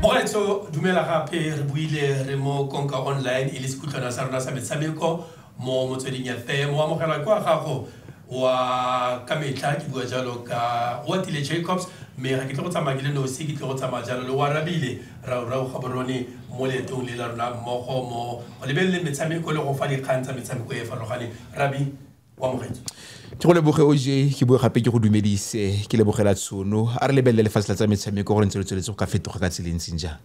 bogaetsho dumela gape re buile re mo konka online e le sekutlwana sa rona sa metshameko mo motsweding ya fm o amogela kwa gago wa ka metlha ke bua jalo ka wa tile jacobs mme ga ke tle go tsamaya ke le nosi ke tle go tsamaya jalo le wa rabile raorao ga borone mo leetong le la rona mmogo mo go lebelele metshameko le go fa dikgang tsa metshameko e e farologaneng rabi o amogetse ke go leboge o je ke bue gape ke go dumedise ke lebogela tshono a re lebelele lefatshe la tsa metshameko gore ntse le tsweletse go ka fetoga ka tseleng ntseng jang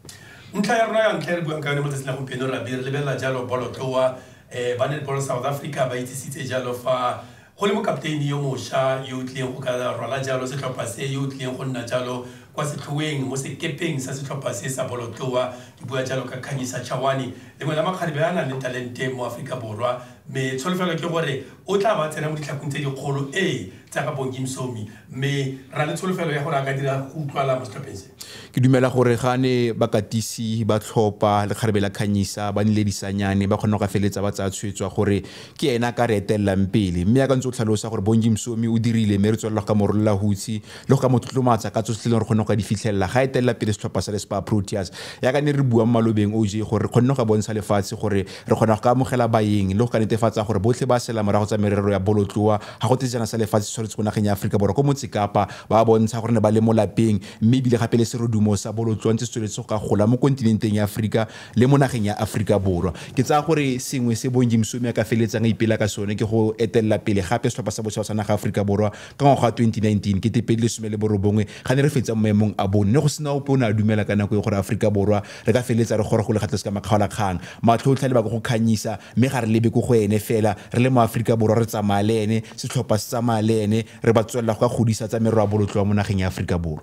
ntlha ya rona ya ntlha e re buang ka yone mo tsatsing la gompieno re be re lebelela jalo bolotloa um eh, ba netball south africa ba itsisitse jalo fa go le mokapteini yo mošwa yo o tlileng go ka rwala jalo setlhopha se yo o tlileng go nna jalo kwa setlhoeng mo sekepeng sa setlhopha se sa bolotloa ke bua jalo ka kganyisa chawane lengwe la makgarebe a nang le talente mo aforika borwa Mme tsholofelo ke gore o tla ba tsena mo ditlhakong tse dikgolo ee tsa ga Bongi Msomi mme ra le tsholofelo ya gore a ka dira go utlwala mo setlhopheng se. Ke dumela gore ga ne bakatisi ba tlhopa lekgarebe la Khanyisa ba nnile disanyane, ba kgona go ka feleletsa ba tsaya tshwetso ya gore ke ene a ka re etelelang pele. Mme yaka o ntse o tlhalosa gore Bongi Msomi o dirile mme re tswelela go ka mo rolola hutshe le go ka mo tlotlomatsa ka tsotlhe tse e leng gore re kgonne go ka di fitlhelela ga etelela pele setlhopha sa le Spar Proteas. Yaka ne re bua mo malobeng, OJ, gore re kgonne go ka bontsha lefatshe gore Re kgona go ka amogela baeng le go ka netefatsa gore botlhe ba sela morago tsa merero ya bolotloa ga go te sejana sa lefatshe se tshwaretswe ko nageng ya Aforika Borwa ko Motse Kapa ba bontsha gore ne ba le mo lapeng mme ebile gape le serodumo sa bolotloa ntse se tsweletse go ka gola mo kontinenteng ya Aforika le mo nageng ya Aforika Borwa. Ke tsaya gore sengwe se Bong Jim Suomi a ka feleletsang a ipela ka sone ke go etelela pele gape setlhopha sa bosetšhaba sa naga ya Aforika Borwa ka ngwaga wa 2019, kete pedi le some le borobongwe, ga ne re fetsa mo maemong a boone ne go sena ope o ne a dumela ka nako eo gore Aforika Borwa Re ka feleletsa re gora go le gatlase ka makgaolakgang. Matlho otlhe a leba ko go Khanyisa, mme ga re lebe ko go ene fela. Re le maAforika Borwa, re tsamaya le ene, setlhopha se tsamaya le ene, re ba tswelela go ka godisa tsa merwabolotloa mo nageng ya Aforika Borwa.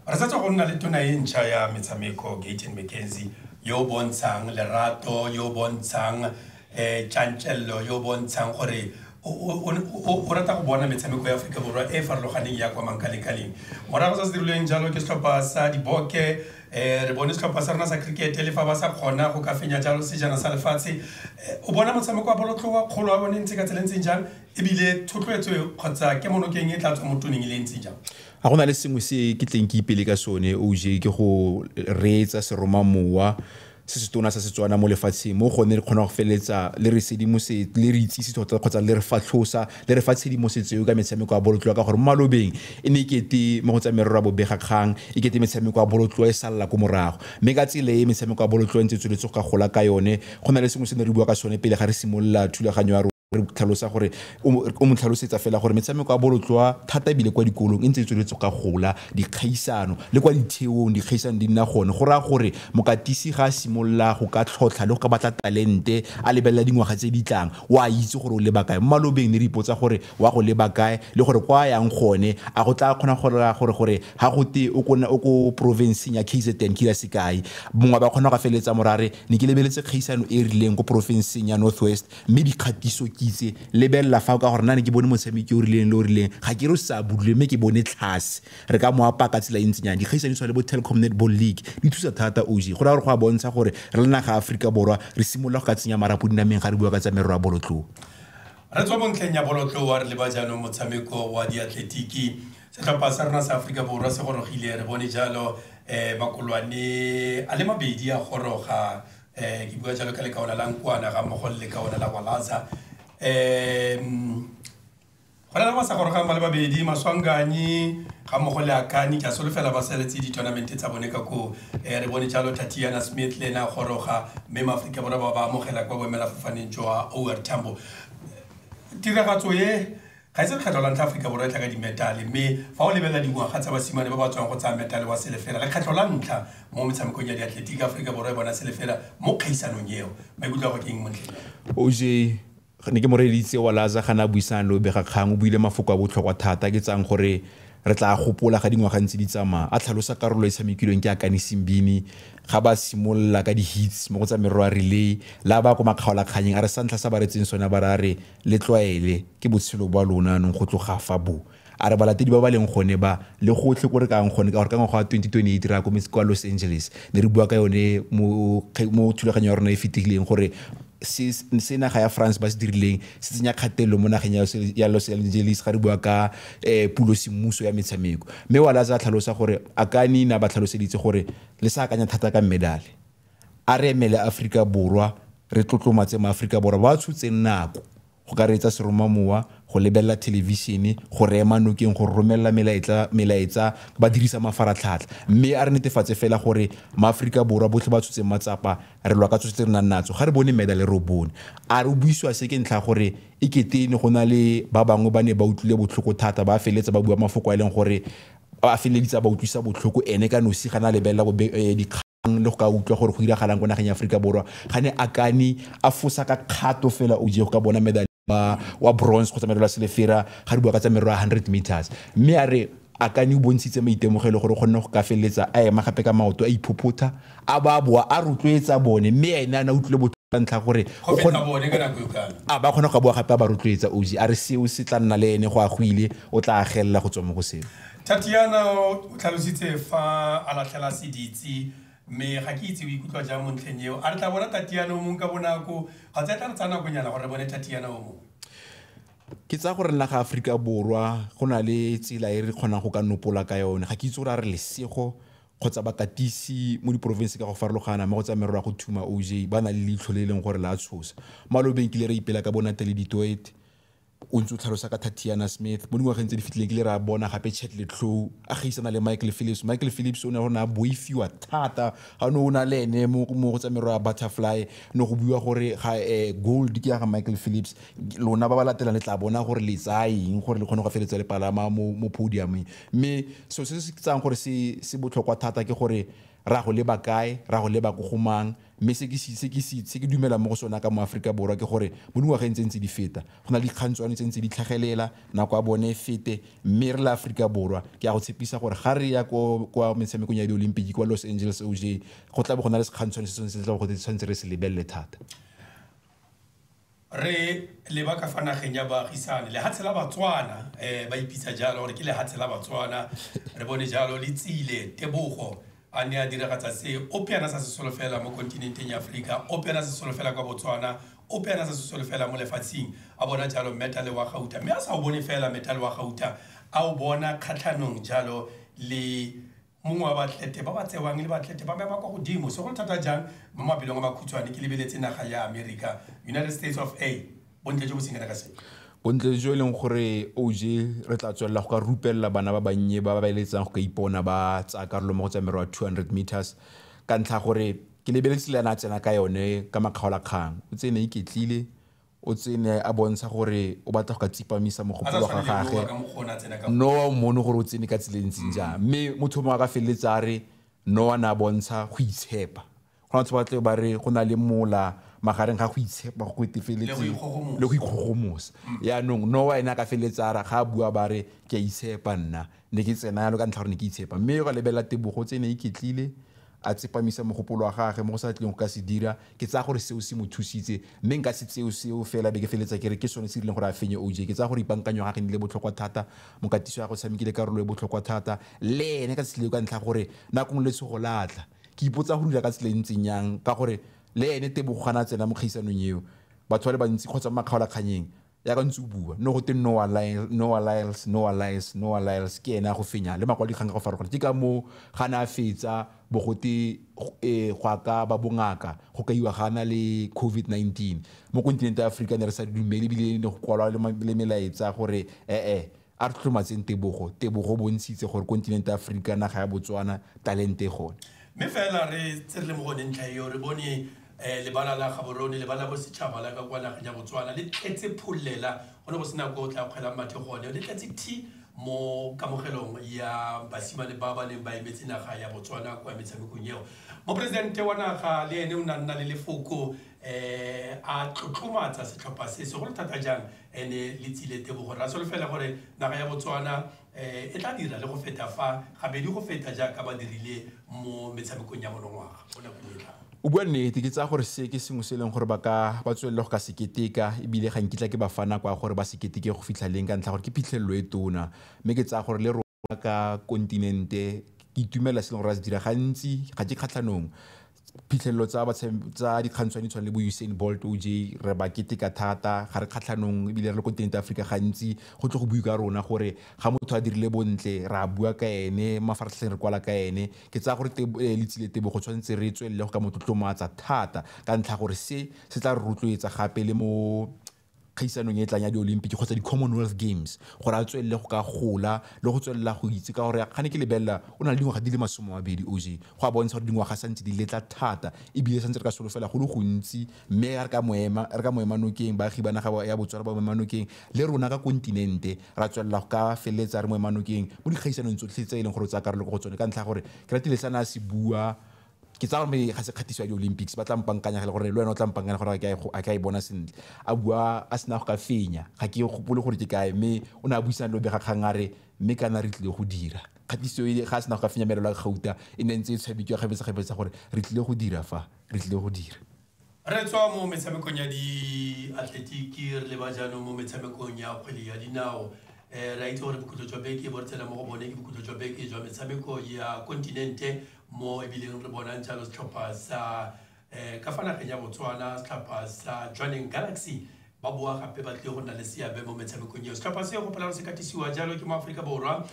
Re sa tswa go nna le tona e ntšha ya metshameko, Gayton McKenzie, yo o bontshang lerato, yo o bontshang um tšantšello yo o bontshang gore o rata go bona metshameko ya aforika borwa e e farologaneng ya kwa mankalekaleng morago sa se dirilweng jalo ke setlhopha sa diboke um re bone setlhopha sa rona sa cricket le fa ba sa kgona go ka fenya jalo sejana sa lefatshe o bona motshameko wa bolotloa kgolo wa bone ntse ka tsela ntseng jang ebile thotloetso kgotsa ke monokeng e tla tswa mo toneng e le ntseng jang ga go na le sengwe se ke tleng ke ipele ka sone o je ke go reetsa seromamowa se se tona sa Setswana mo lefatsheng mo gone re kgona go feleletsa le re sedimosetse le re itsise tota kgotsa le re fatlhosa le re fa tshedimosetso eo ka metshameko ya bolotloa ka gore mo malobeng e ne e kete mo go tsa merero ya bobegakgang e kete metshameko ya bolotloa e salela ko morago mme ka tsela e metshameko ya bolotloa e ntse e tsweletse go ka gola ka yone go na le sengwe se ne re bua ka sone pele ga re simolola thulaganyo ya re tlhalosa gore o mo tlhalosetsa fela gore metshameko ya bolotloa thata ebile kwa dikolong e ntse e tsweletse ka gola dikgaisano le kwa ditheong dikgaisano di nna gone go raya gore mokatisi ga a simolola go ka tlhotlha le go ka batla talente a lebelela dingwaga tse di tlang o a itse gore o leba kae mo malobeng ne re ipotsa gore wa go leba kae le gore kwa yang gone a go tla kgona gore gore gore ga go te o kona o ko provinceng ya KZN ke ya sekai mongwe ba kgona go feleletsa morare ne ke lebeletse kgaisano e e rileng ko provinceng ya Northwest mme dikgatiso ke itse lebelela fa ka gore nna ne ke bone motshameki o rileng le o rileng ga ke re o sa budule mme ke bone tlhase re ka mo apaya ka tsela e ntsinyana dikgaisano tshwa le bo Telkom Netball League di thusa thata oz go raya gore go a bontsha gore re le naga ya Aforika Borwa re simolola go ka tsenya marapo dinameng ga re bua ka tsa merero ya bolotloa. Re tswa mo ntlheng ya bolotloa re leba jaanong motshameko wa diatletiki setlhopha sa rona sa Aforika Borwa se gorogile re bone jalo makolwane a le mabedi a goroga um ke bua jalo ka lekaona la nkwana ga mmogo le lekaona la walaza um go na le masa gorogang ba le babedi maswanganyi ga mmogo le akani ke a solofela ba saletse di-tournamente tsa bone ka koo um re bone jalo tatiana smith le ene a goroga mme maaforika borwa ba ba amogela kwa boemelafofaneng jwa over tambo tiragatso e Ga e se lekgetho la ntlha Aforika Borwa e tla ka dimetale, mme fa o lebelela dingwaga tsa basimane ba ba tswang go tsaya metale wa selefera, lekgetho la ntlha mo metshamekong ya diatletiki, Aforika Borwa e bona selefera mo kgaisanong eo. Maikutlo a gago ke eng mo ntlheng eo? OJ, Ne ke moreeleditse wa Laza ga ne a buisana le bobegakgang. O buile mafoko a botlhokwa thata a ke tsayang gore re tla a gopola ga dingwaga ntse di tsamaya, a tlhalosa karolo e e tshamekilweng ke Akani Simbine ga ba simolola ka di-heats mo go tsa merero ya relay le a baya kwa makgaolakganyeng a re sa ntlha se a ba reetseng sone a ba re a re Le tlwaele, ke botshelo bwa lona anong go tloga fa bo. A re balatedi ba ba leng gone ba, le gotlhe ko re ka yang gone, ka gore ka ngwaga wa 2028 re ya ko, kwa Los Angeles. Ne re bua ka yone mo, mo thulaganyong ya rona e fetileng, gore se, se naga ya France ba se dirileng, se tsenya kgatelelo mo nageng ya, ya Los Angeles, ga re bua ka um pulo semmuso ya metshameko. Mme Wallace a tlhalosa gore, Akani ne a ba tlhaloseditse gore, le sa akanya thata ka medale. A re emele Aforika Borwa, re tlotlomatse maAforika Borwa ba ba tshotseng nako go ka reetsa seromamowa, go lebelela thelevishene, go reema nokeng, go romelela melaetla, melaetsa ba dirisa mafaratlhatlha. Mme a re netefatse fela gore maAforika Borwa botlhe ba tshotse matsapa, re lwa ka tsotlhe tse re nang natso. Ga re bone medal e re o bone. A re o buisiwa se ke ntlha ya gore e kete e ne go na le ba bangwe ba ne ba utlwile botlhoko thata, ba feleletsa ba bua mafoko a e leng gore a feleleditse a ba utlwisa botlhoko ene ka nosi ga ne a lebelela dikgang. le go ka utlwa gore go diragalang ko nageng ya aforika borwa ga ne a kane a fosa ka kgato fela o je go ka bona medal wa, wa bronze kgotsa medal wa selefera ga di bua ka tsa merero ya 100 meters mme a re a kane o bontshitse maitemogelo gore o kgonne go ka feleletsa a ema gape ka maoto a iphophotha a ba boa a rotloetsa bone mme ene a na utlwile botlhoko ka ntlha gore go o feta kgona- bone ka nako e kalo a ba kgona go ka boa gape a ba rotloetsa oji a re seo se tla nna le ene go a go ile o tla agelela go tswa mo go seo Tatiana o tlhalositse fa a latlhela seditsi mme ga ke itse o ikutlwa jang mo ntlheng eo a re tla bona tatiana o mongwe ka bonako kgotsa e tla re tsaya nakonyana gore re bone tatiana o mongwe ke tsaya gore nna ga aforika borwa go na le tsela e re kgonang go ka nopola ka yone ga ke itse gore a re lesego kgotsa bakatisi mo diporofense ka go farologana mo go tsa merero ya go thuma oj ba na le leitlho le e leng gore la tshosa malobeng kile re ipela ka bonatele ditoete O ntse o tlhalosa ka Tatiana Smith, Mo dingwageng tse di fetileng ke ile ra bona gape Chet Letlow a gaisana le Michael Phillips. Michael Phillips o ne a go ne a boifiwa thata ga o ne o na le ene mo go tsa merwa ya butterfly, ne go buiwa gore ga gold ke ya ga Michael Phillips. Lona ba ba latelang le tla bona gore le tsaya eng gore le kgone go feleletsa le palama mo podium-eng. Mme selo se se tsayang gore se botlhokwa thata ke gore re a go leba kae, re a go leba ko go mang, mme se ke dumelang mo go sone ka mo Aforika Borwa ke gore mo dingwageng tse ntse di feta go na le dikgantshwane tse ntse di tlhagelela nako ya bone e fete mme re le Aforika Borwa ke a go tshepisa gore ga re ya kwa metshamekong ya di-olympic kwa Los Angeles OJ go tla bo go na le sekgantshwane se tshwanetse se tla go tshwanetse re se lebelele thata Re leba ka fa nageng ya baagisane, lehatshe la Batswana, um ba ipitsa jalo gore ke lehatshe la Batswana. Re bone jalo le tsile Tebogo a ne a diragatsa se, ope a na sa se solofela mo kontinenteng ya Aforika, ope a na se solofela kwa Botswana, ope a na sa se solofela mo lefatsheng, a bona jalo metale wa gauta. Mme a sa o bone fela metale wa gauta, a o bona kgatlhanong jalo le mongwe wa baatlete ba ba tsewang le baatlete ba mema kwa godimo se go le thata jang mo mapelong a makhutshwane ke lebeletse naga ya america united states of a bontle jo bo senyana ka sepe bontle jo e leng gore oj re tla tswelela go ka rupelela bana ba bannye ba ba ba eletsang go ka ipona ba tsaya karolo mo go tsa merwa 200 meters ka ntlha gore ke lebeletse le ena a tsena ka yone ka makgaolakgang o tsene iketlile O tsene a bontsha gore o batla go ka tsipamisa mogopolo wa ga gage. Noa o mmone gore o tsene ka tsela e ntseng mm. jang. Mme motho mongwe a ka feleletsa a re Noa ne a bontsha go itshepa. Go na batho ba tle ba re go na le mola magareng ga go itshepa go etefeletse le go ikgogomosa mm. yaanong noa ene a ka feleletsa a ra ga a bua ba re ke a itshepa nna Ne ke tsena yalo ka ntlha ya gore ne ke itshepa. Mme yo ga lebelela Tebogo tse e ne e iketlile, a tsepamisa mogopolo wa gagwe mo go sa tlileng go ka se dira, ke tsaya gore seo se mo thusitse. Mme nka se tseo seo fela e be ke feleletsa ke re ke sone se dirileng gore a fenye OJ. Ke tsaya gore ipankanyo ya gagwe e nnile botlhokwa thata, mokatiso wa gagwe o tshamekile karolo e botlhokwa thata le ene ka tsela eo ka ntlha ya gore nako nngwe letshogo la tla. Ke ipotsa go dira ka tsela e ntseng jang ka gore le ene Tebogo ga ne a tsena mo kgaisanong eo, batho ba le bantsi kgotsa mo makgaolakgannyeng ya ka ntse o bua no go te noa liles noa liles noa liles ke ene a go fenya le makwalo dikgang ka go farologana ke ka moo ga ne a fetsa bo gote e go ka ba bongaka go kaiwa ga na le covid-19 mo kontinente ya aforika ne re sa dumele ebile ne go kwalwa le melaetsa gore ee A re tlotlomatseng tebogo, tebogo o bontshitse gore kontinente ya Aforika, naga ya Botswana, talente e gone. Mme fela re tse re le mo gone ntlha eo, re bone lebala la gabo rone, lebala la bosetšhaba la ka kwa nageng ya Botswana le tletse phollela, go ne go sena ko o tla kgwelang mathe gone, le tletse thi mo kamogelong ya basimane ba ba neng ba emetse naga ya Botswana kwa metshamekong eo. Moporesidente wa naga le ene o ne a nna le lefoko, a tlotlomatsa setlhopha se segolo thata jang e ne le tsile tebogo. Re a solofela gore naga ya Botswana e tla dira le go feta fa gabedi go feta jaaka ba dirile mo metshamekong ya monongwaga mo nakong e tlang. O bua nnete, ke tsaya gore se ke sengwe se e leng gore ba ka ba tswelele go ka se keteka e bile ga nkitla ke ba fa nako ya gore ba se keteke go fitlha leng ka ntlha ya gore ke phitlhelelo e tona mme ke tsaya gore le ka kontinente ke itumela se e leng gore a se dira gantsi ga ke kgatlhanong phitlhelelo tsa tsa dikgantshwane tshwane le bo usain bolt o j re ba keteka thata ga re kgatlhanong ebile re le kontinente aforika gantsi go tle go bue ka rona gore ga motho a dirile bontle re a bua ka ene mafaratlhatlheng re kwala ka ene ke tsaya gore letsile tebo go tshwanetse re tswelele go ka motlotlomatsa thata ka ntlha gore se se tla re rotloetsa gape le mo kgaisanong e tlang ya di-olympic kgotsa di-commonwealth games gore a tswelele go ka gola le go tswelela go itse ka gore ga ne ke lebelela o na le dingwaga di le masome a mabedi og go a bontsha gore dingwaga santse di letla thata ebile santse re ka solofela go le gontsi mme re ka moema re ka moema nokeng baagi ba naga ya botswana ba moema nokeng le rona ka kontinente ra tswelela go ka feleletsa re moema nokeng mo dikgaisanong tsotlhe tse e leng gore o tsaya karolo go tsone ka ntlha gore ke ratile sa ne a se bua ke tsaya gore ga se kgatiso ya di-olympics ba tla mpankanyagela gore le wena o tla mpankanya gore a ka e bona sentle a bua a sena go ka fenya ga ke gopole gore ke kae mme o ne a buisana le obega kgang a re mme kana re tlile go dira kgatiso e ga a sena go ka fenya merelo ya gauta e ne ntse e tshwabitswa gabetsagabetsa gore re tlile go dira fa re tlile go dira Re tswa mo metshamekong ya diatletiki re le ba jaanong mo metshamekong ya kgwele ya dinao um re a itse gore bokhutlo jwa beke bo re tsena mo go bone ke bokhutlo jwa beke jwa metshameko ya kontinente mo ebileng re bonang jalo setlhopha sa um ka fa nageng ya botswana setlhopha sa jwaneng galaxy ba boa gape ba tlile go nna le seabe mo metshamekong eo setlhopha se gopola gore se katisiwa jalo ke mo aforika borwa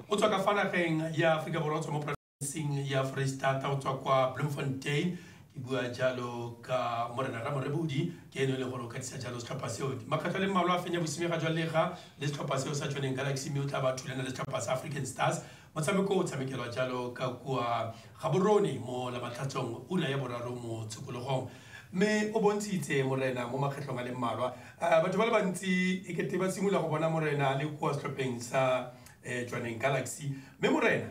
o tswa ka fa nageng ya aforika borwa o tswa mo seng ya foreistata o tswa kwa bloemfontein ke bua jalo ka morena ramorebodi ke eno e leng gore o katisa jalo setlhopha seo makgetlho le mmalwa a fenya bosimega jwa lega le setlhopha seo sa tsoneng galaxy mme o tla ba thulana le setlhopha sa african stars motshameko o tshamekelwa jalo ka kua gaborone mo lamatlhatsong ura ya boraro mo tshokologong mme o bontshitse morena mo makgetlhong a le mmalwa eh, batho ba le bantsi e kete ba simolola go bona morena a le kua setlhopheng sa um eh, tswaneng galaxy mme morena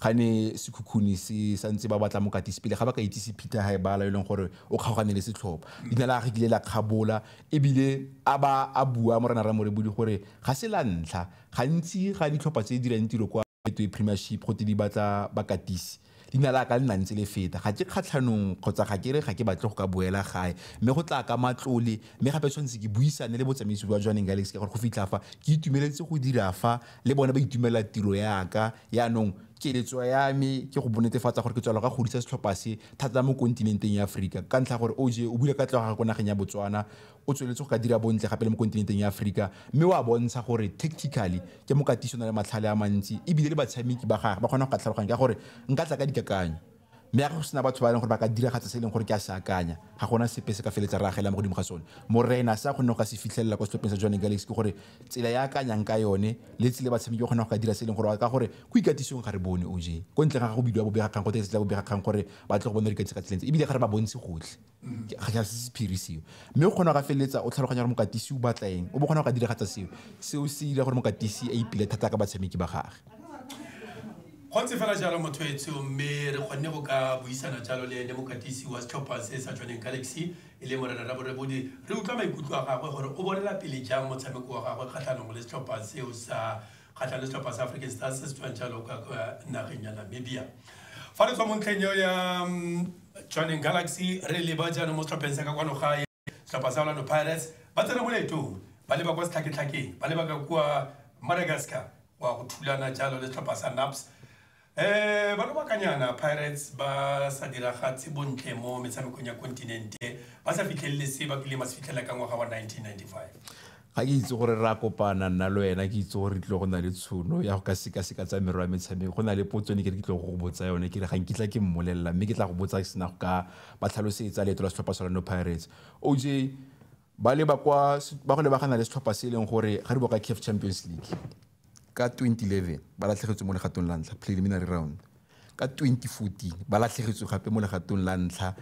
ga ne sekhukhuni se sa ntse ba batla mokatisi pele ga ba ka itsise Peter Haebala e leng gore o kgaogane le setlhopha leina la gage kile la kgabola ebile a ba a bua morena Ramorebodi gore ga se la ntlha gantsi ga ditlhopha tse dirang tiro kwa Betway Premiership go te di batla bakatisi leina la ka le na ntse le feta ga ke kgatlhanong kgotsa ga ke re ga ke batle go ka boela gae mme go tla ka matlole mme gape tshwanetse ke buisane le botsamaisi jwa Jwaneng Galaxy ka gore go fitlha fa ke itumeletse go dira fa le bone ba itumelela tiro ya ka Jaanong keletso ya me ke go bonetefatsa gore ke tswela ka godisa setlhopha se thata mo kontinenteng ya Aforika. Ka ntlha gore OJ o bula katlego ya gagwe ko nageng ya Botswana, o tsweletse go ka dira bontle gape le mo kontinenteng ya Aforika mme o a bontsha gore tactically ke mokatisi o na le matlhale a mantsi ebile le batshameki ba gagwe ba kgona go ka tlhaloganya ka gore nka tla ka dikakanyo. Mme ga go sena batho ba e leng gore ba ka diragatsa se e leng gore ke a se akanya, ga gona sepe se ka feletsa re agela mo godimo ga sone. Morena, se a kgonneng go ka se fitlhelela kwa setlhopheng sa Jwaneng Galaxy ke gore tsela e a akanyang ka yone le tsela e batshameki ba kgonang go ka dira se e leng gore ka gore ko ikatisong ga re bone, OJ, ko ntleng ga go bidiwa bobegakgang gotwe ke se tla bobegakgang gore ba tle go bone re ikatisa ka tsela e ntse ebile ga re ba bontshe gotlhe. ga ja se sephiri seo mme o kgona go feleletsa o tlhaloganya gore mokatisi o batla eng o bo kgona go ka diragatsa seo seo se dira gore mokatisi a ipile thata ka batshameki ba gage go ntse fela jalo motho etsho mme re kgonne go ka buisana jalo le ene mokatisi wa setlhopha se sa tshwaneng galaxy e le morena ra borebodi re utlwa maikutlo a gagwe gore o bonela pele jang motshameko wa gagwe kgatlhanong le setlhopha seo sa kgatlha le setlhopha sa African Stars se se tswang jalo kwa nageng ya Namibia fa re tswa mo ntlheng eo ya mm, Jwaneng Galaxy re leba jaanong mo setlhopheng sa ka kwano gae setlhopha sa Orlando Pirates ba tsena mo leetong ba leba kwa setlhaketlhakeng ba leba ka kwa Madagascar wa go thulana jalo le setlhopha sa NAPS E Ba lobakanyana Pirates ba sa diragatse bontle mo metshamekong ya kontinente, ba sa fitlhelele se ba kileng ba se fitlhelela ka ngwaga wa 1995. Ga ke itse gore re a kopana nna le wena, ke itse gore re tlile go nna le tshono ya go ka sekaseka tsa merero ya metshameko. Go na le potso e ne ke re ke tlile go go botsa yone, ke re ga nkitla ke mmolelela mme ke tla go botsa ke sena go ka ba tlhalosetsa leeto la setlhopha sa Orlando Pirates. OJ, ba leba kwa, ba go lebagana le setlhopha se e leng gore ga di boa ka CAF Champions League. ka 2011 ba latlhegetswe mo legatong la ntlha, preliminary round, ka 2014 ba latlhegetswe gape mo legatong la ntlha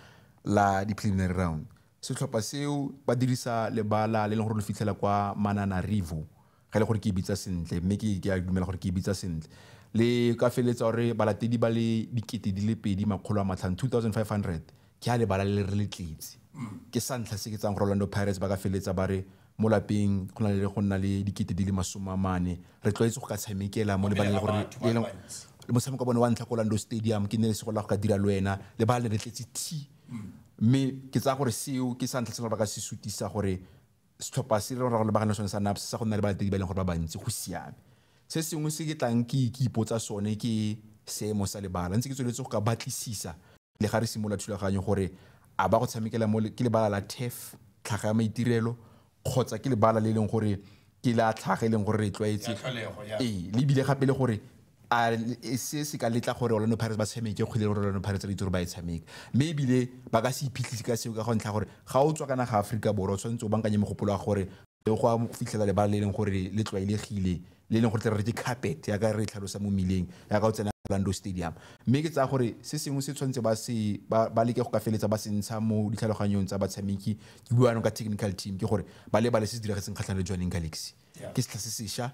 la di-preliminary round. Setlhopha seo ba dirisa lebala le leng gore lo fitlhela kwa Mananarivo ga ele gore ke e bitsa sentle mme ke ke a dumela gore ke e bitsa sentle le ka feleletsa gore balatedi ba le dikete di le pedi makgolo a matlhano 2500 ke a lebala le re le tletse ke sa ntlha se ke tsang gore Orlando Pirates ba ka feleletsa ba re Mo lapeng go na le go nna le dikete di le masome a mane, re tlwaetse go ka tshamekela mo lebaleng le gore le eleng le motshameko wa bone wa ntlha ko Orlando Stadium ke ne se go la go ka dira le wena, lebala le re tletse thi. Mme ke tsaya gore seo ke sa ntlha se ba ka se sutisa gore setlhopha se re lebagane le sone sa NAPS sa go nna le balatedi ba e leng gore ba bantsi go siame. Se sengwe se ke tlang ke ke ipotsa sone ke seemo sa lebala, ntse ke tsweletse go ka batlisisa, le ga re simolola thulaganyo gore a ba go tshamekela mo ke lebala la TEF tlhaga ya maitirelo kgotsa ke lebala le e leng gore ke la tlhaga e leng gore re tlwaetse ee le ebile gape le gore a e se se ka letla gore Orlando Pirates ba tshameke kgwele gore Orlando Pirates re itse gore ba e tshameka mme ebile ba ka se iphitlhise ka seo ka go ntlha gore ga o tswa ka naga Aforika Borwa o tshwanetse o bankanye mogopolo wa gore le go a fitlhela lebala le e leng gore le tlwaelegile le e leng gore tle re ke carpet ya ka re e tlhalosa mo mmileng ya ka o tsena Orlando Stadium mme ke tsaya gore se sengwe se tshwanetse ba se ba leke go ka feletsa ba se ntsha mo ditlhaloganyong tsa batshameki ke bua ka technical team ke gore ba lebale se se diragetseng kgatlhanong le Jwaneng Galaxy ke setlha se sesha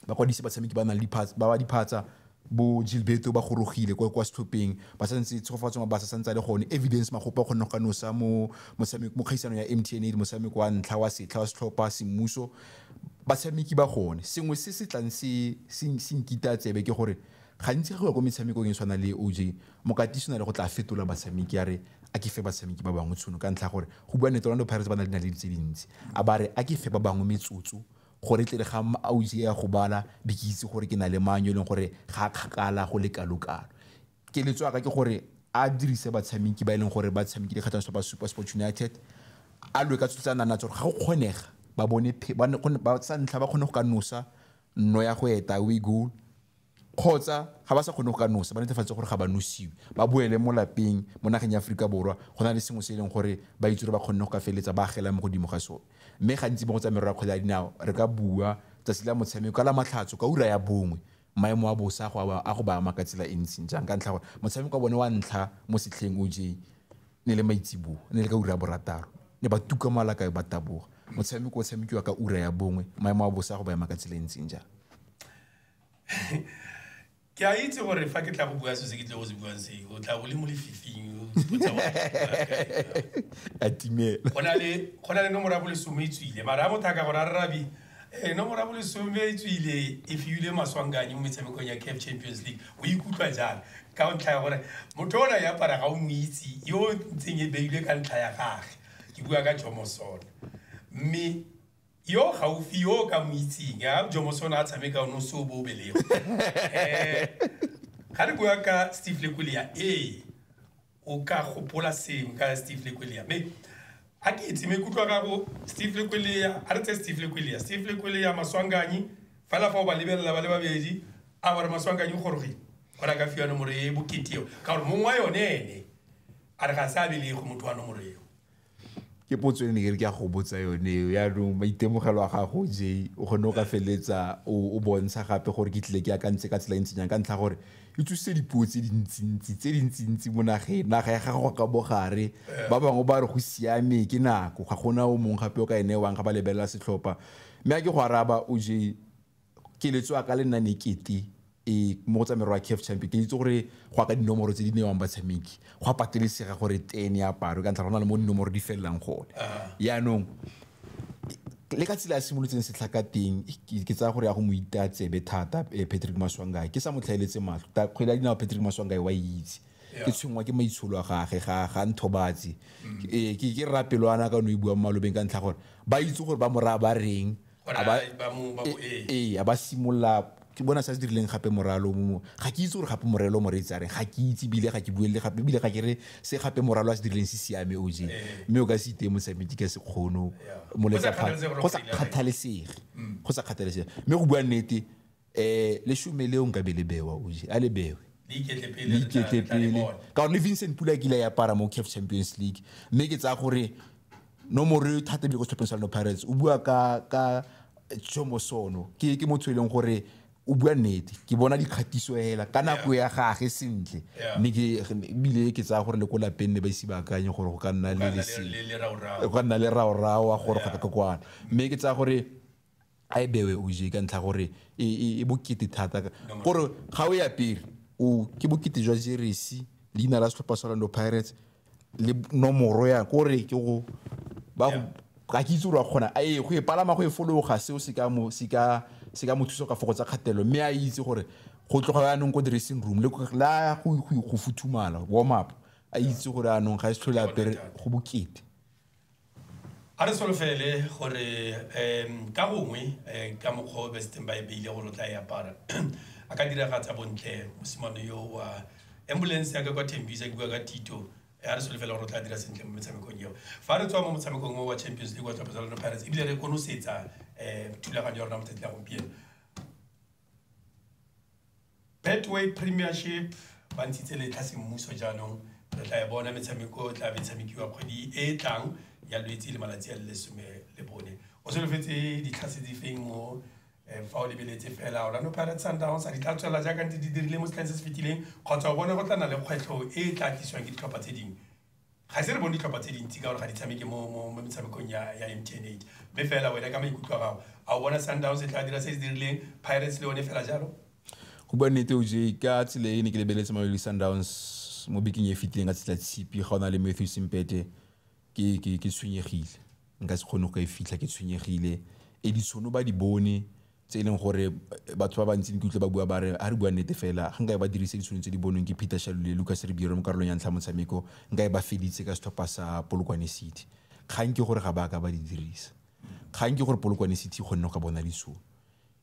ba kwadise batshameki ba nang le diphatsa ba ba diphatsa bo Gilberto ba gorogile kwa kwa setlhopheng ba sa ntse tshegofatso ma ba sa santse le gone evidence magopa o kgone go ka nosa mo motshameko mo kgaisano ya MTN motshameko wa ntlha wa setlha wa setlhopha semmuso batshameki ba gone sengwe se se tlang se se nkita tsebe ke gore gantsi go ya kwa metshamekong e tshwana le OJ mokatisi na le go tla fetola batshameki a re a ke fe batshameki ba bangwe tshono ka ntlha gore go bua nete Orlando Pirates ba na le dinaledi tse dintsi a ba re a ke fe ba bangwe metsotso gore tle re ga ausi ya go bala di ke itse gore ke na le mang yo e leng gore ga a kgakala go le kalo-kalo keletso yaka ke gore a dirise batshameki ba e leng gore ba tshamekile kgatlhanong ba super sports united a lwe ka tso tsa nana tsa gore ga go kgonega ba bone ba sa ntlha ba kgone go ka nosa nno ya go eta away goal kgotsa ga ba sa kgone go ka nosa ba netefatse gore ga ba nosiwe, ba boele mo lapeng mo nageng ya Aforika Borwa go na le sengwe se e leng gore ba itse gore ba kgonne go ka feleletsa ba agela mo godimo ga sone. Mme gantsi mo go tsa merero ya kgwele ya dinao re ka bua tsatsi la motshameko ka Lamatlhatso ka ura ya bongwe maemo a bosa a go ba ama ka tsela e ntseng jang ka ntlha gore motshameko wa bone wa ntlha mo setlheng o je ne le maitseboa ne le ka ura ya borataro ne ba tuka mo alakae ba taboga motshameko o tshamekiwa ka ura ya bongwe maemo a bosa a go ba ema ka tsela e ntseng jang. ke a itse gore fa ke tla go bua se se ke tle go se buang se o tla bole mo lefifing o tsipotsa wa a timela go na le go na le nomoro ya bolesome e tswile mara a motho a ka gore a rrabi eh, nomoro ya bolesome e tswile e fiile maswanganye mo metshamekong ya caf champions league o ikutlwa jang ka ntlha ya gore motho o na ya para ga o mo itse yo ntseng e beilwe ka ntlha ya gage ke bua ka jomosone mme yo o gaufi yo o ka mo itseng a jomo se o ne a tshameka one o se o bo o belego um ga re bua ka steve lekolia ee o ka gopola sengwe ka steve lekolia me a ke itse maikutlo a gago steve lekolia a re tse steve lekolia steve lekolia maswanganyi fela fa o ba lebelela ba le babedi a gore maswanganyi o gorogile gore a ka fiwa nomoro e bokete eo ka gore mongwe wa yone ene a re ga se a belego motho wa nomoro eo ke potso e ne ke re ke a go botsa yone eo yaanong maitemogelo a gago je o kgone o ka feleletsa o bontsha gape gore ke tlile ke akantse ka tsela e ntseng jang ka ntlha gore e tsositse dipuo tse dintsintsi tse dintsintsi mo nageng naga ya gago ka bogare ba bangwe ba re go siame ke nako ga gona o mongwe gape o ka e newang ga ba lebelela setlhopha mme a ke go araba o je keletso ya ka le nna ne kete e mo go tsa merwa CAF Champion ke itse gore go ka dinomoro tse di newang batshameki go a patelesega gore 10 ya paro ka ntlha go na le mo dinomoro di felelang gone yaanong le ka tsela ya simolotseng setlha ka teng ke tsaya gore ya go mo ita tsebe thata eh, Patrick Maswangae ke sa mo tlhaeletse matlho ta kgwele ya dinao Patrick Maswangae wa itse ke tshwengwa ke maitsholo a gage ga ga nthobatse Eh, ke ke rrapelwana ka no e buang malobeng ka ntlha gore ba itse gore ba moraya ba reng gore a ba- a- ba mo- ba mo- ee. ee a ba simolola ke bona se a se dirileng gape moralo mo ga ke itse gore gape morelo moreetsi a reng ga ke itse ebile ga ke buelele gape ebile ga ke re se gape moralo a se dirileng se siame o je mme o ka se iteye mosamedi ka sekgono Yeah. mo Go sa lefapheng kgathalesege gore go go sa ile kae. kgathalesege go sa kgathalesege mme go bua nnete um leshome leo nka be le bewa oje a le bewe leiketlepele ka gore le vincent pula kile ya para mo caf champions league mme ke tsaya gore nomoro eo thata ebile ko setlhopheng sa leno pirates o bua ka ka jomosono ke ke motho e leng gore o bua nnete ke bona dikgatiso hela ka nako ya gage sentle mme ebile ke tsaya gore le ko lapeng ne ba ise ba akanye gore go ka nna le go ka nna le raorawa gore go ka kwana mme ke tsaya gore a e bewe o je ka ntlha gore e, e, e bokete thata gore ga o e apere o ke bokete jwa jeresi leina la setlhopha sa orlando pirates le nomoro ya kore ke go ba go ka ke itse gore wa kgona a e go e palama go e fologa seo se ka mo se ka se ka mo thusa ka fokotsa kgatelelo mme a itse gore go tloga yaanong ko dressing room le la go go- go futhumala warm up a itse gore yaanong ga e se tlhole apere go bokete a re solofele gore um ka gongwe um ka mokgwa o besiteng ba e beile gore o tla e apara a ka diragatsa bontle mosimane yo wa ambulance ya ka kwa tembisa ke bua ka tito eh, a re solofele gore o tla dira sentle mo metshamekong eo fa re tswa mo motshamekong o wa champions league wa tlhopetsa lona pirates ebile re konosetsa um thulaganyo ya rona mo tsatsi la gompieno Betway Premiership ba ntshitse letlha semmuso jaanong re tla e bona metshameko tla be tshamekiwa kgwedi e e tlang ya lwetse le malatsi a le lesome le bone o solofetse ditlhase di feng mo eh, fa o lebeletse fela orlando pirates sundowns a di tla tswelela jaaka ntse di dirile mo setlheng se se fetileng kgotsa o bona go tla na le kgwetlho e e tla tlisiwang ke ditlhopha tse dingwe ga se re bone ditlhopha tse dintsi ka gore ga di tshameke mo metshamekong ya m t n eight mme fela wena ka maikutlo a gago a o bona sundowns e tla dira se se dirileng pirates le one fela jalo go bua nnete o je ka tsela e ne ke lebeletse mamelodi sundowns mo bekeng e fetileng ka tsela tshipi ga o na le matthew simpete ke tshwenyegile nka se kgone go ka e fitlha ke tshwenyegile e ditshono ba di bone tse e leng gore batho ba bantsi nkutlwe ba bua ba re ga re bua nnete fela ga nkae ba dirise ditsholo tse di bonweng ke Peter Shalule le Lucas Ribeiro mo karolong ya ntlha motshameko nkae ba feditse ka setlhopha sa Polokwane City kgang ke gore ga ba ka ba di dirisa kgang ke gore Polokwane City kgonne go ka bona ditsholo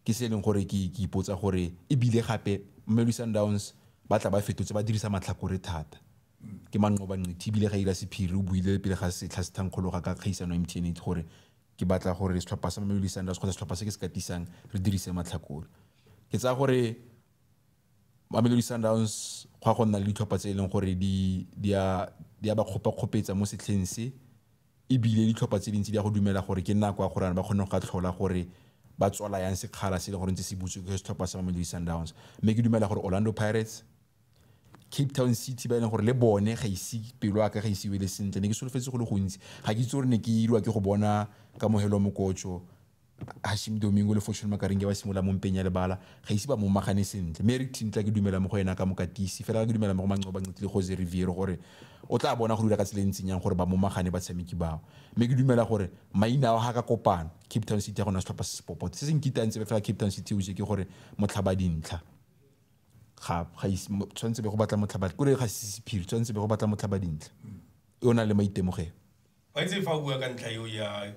ke se e leng gore ke ke ipotsa gore ebile gape Mamelodi Sundowns ba tla ba fetotse ba dirisa matlhakore thata ke manqoba nqithe ebile ga ira sephiri o buile pele ga setlha se thankgologa ka kgaisano ya MTN gore ke batla gore setlhopha sa Mamelodi Sundowns kgotsa setlhopha se ke se katisang re dirise matlhakore ke tsaya gore Mamelodi Sundowns go a go nna le ditlhopha tse e leng gore di a ba kgopakgopetsa mo setlheng se ebile ditlhopha tse dintsi di a go dumela gore ke nako ya gore ba kgone go ka tlhola gore ba tswala yang sekgala se e leng gore ntse se butswe ke setlhopha sa Mamelodi Sundowns mme ke dumela gore Orlando Pirates cape town city ba e leng gore le bone ga ise pelo a ka ga ise wele sentle ne ke solofetse go le gontsi ga ke itse gore ne ke irwa ke go bona kamogelo mokotso hashim domingo le fortune makarenge ba simolola mo mpeng ya lebala ga ise ba momagane sentle mme eric tintla ke dumela mo go ena ka mokatisi fela ke dumela mo go manco ba nqitile jose riviero gore o tla bona go dira ka tsela e ntseng yang gore ba momagane batshameki bao mme ke dumela gore maina ao ga ka kopano cape town city ya gona setlhopha se sepopote se se nkitantse fela cape town city o je ke gore motlhaba dintlha ga ga ise- mo- tshwanetse be go batla motlhaba kore ga se sephiri tshwanetse be go batla motlhaba dintle e o nang le maitemogelo wa itse fa o bua ka ntlha eo ya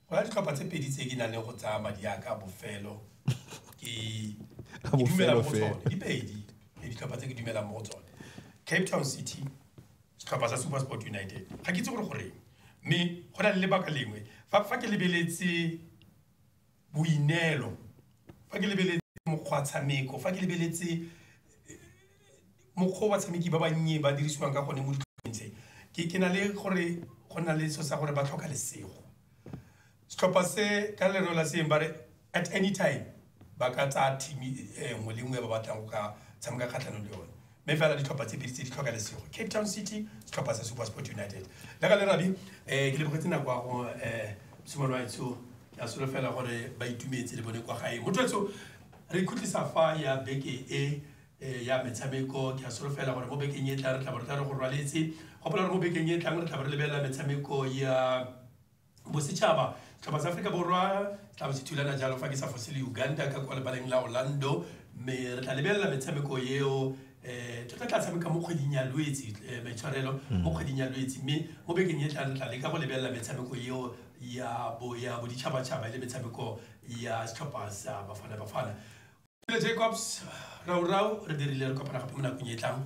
go na le ditlhopha tse pedi tse ke nang le go tsaya madi a ka a bofelo ke A ke dumela mo go bofelo tsone di pedi ke ditlhopha tse ke dumelang mo go tsone cape town city setlhopha sa super sport united ga ke itse gore goreng mme go na le lebaka lengwe fa fa ke lebeletse boineelo, fa ke lebeletse mokgwa tshameko, fa ke lebeletse mokgwa o batshameki ba bannye ba dirisiwang ka gone mo ditlhopheng tse, ke ke na le gore go na le selo sa gore ba tlhoka lesego. Setlhopha se ka lero la seeng bare at any time ba ka tsaya team e nngwe le nngwe e ba batlang go ka tshameka kgatlhanong le yone. mme fela ditlhopha tse pedi tse di tlhoka lesego cape town city setlhopha sa super sport united la ka le rabi um eh, ke lebogetse nako ya go um eh, sumane wa etsho ke a solofela gore ba itumetse le bone kwa gae motho etso re ikhutlisa fa ya beke e eh, ya metshameko ke a solofela gore mo bekeng e tla re tla bo re tla re go rwaletse gopola gore mo bekeng e tlang re tla bo re lebelela metshameko ya Bosetšhaba, Tlhopha sa Aforika Borwa, tla bo se thulana jalo fa ke sa fose le Uganda ka kwa lebaleng la Orlando mme re tla lebelela metshameko eo um tota tla tshameka mo kgweding ya lwetse um maitshwarelo mo kgweding ya lwetse mme mo bekeng e tlang re tla leka go lebelela metshameko eo ya bo ya boditšhabatšhaba e le metshameko ya setlhopha sa bafana bafana Pele Jacobs, Raurau, re dirile re kopana gape mo nakong e tlang.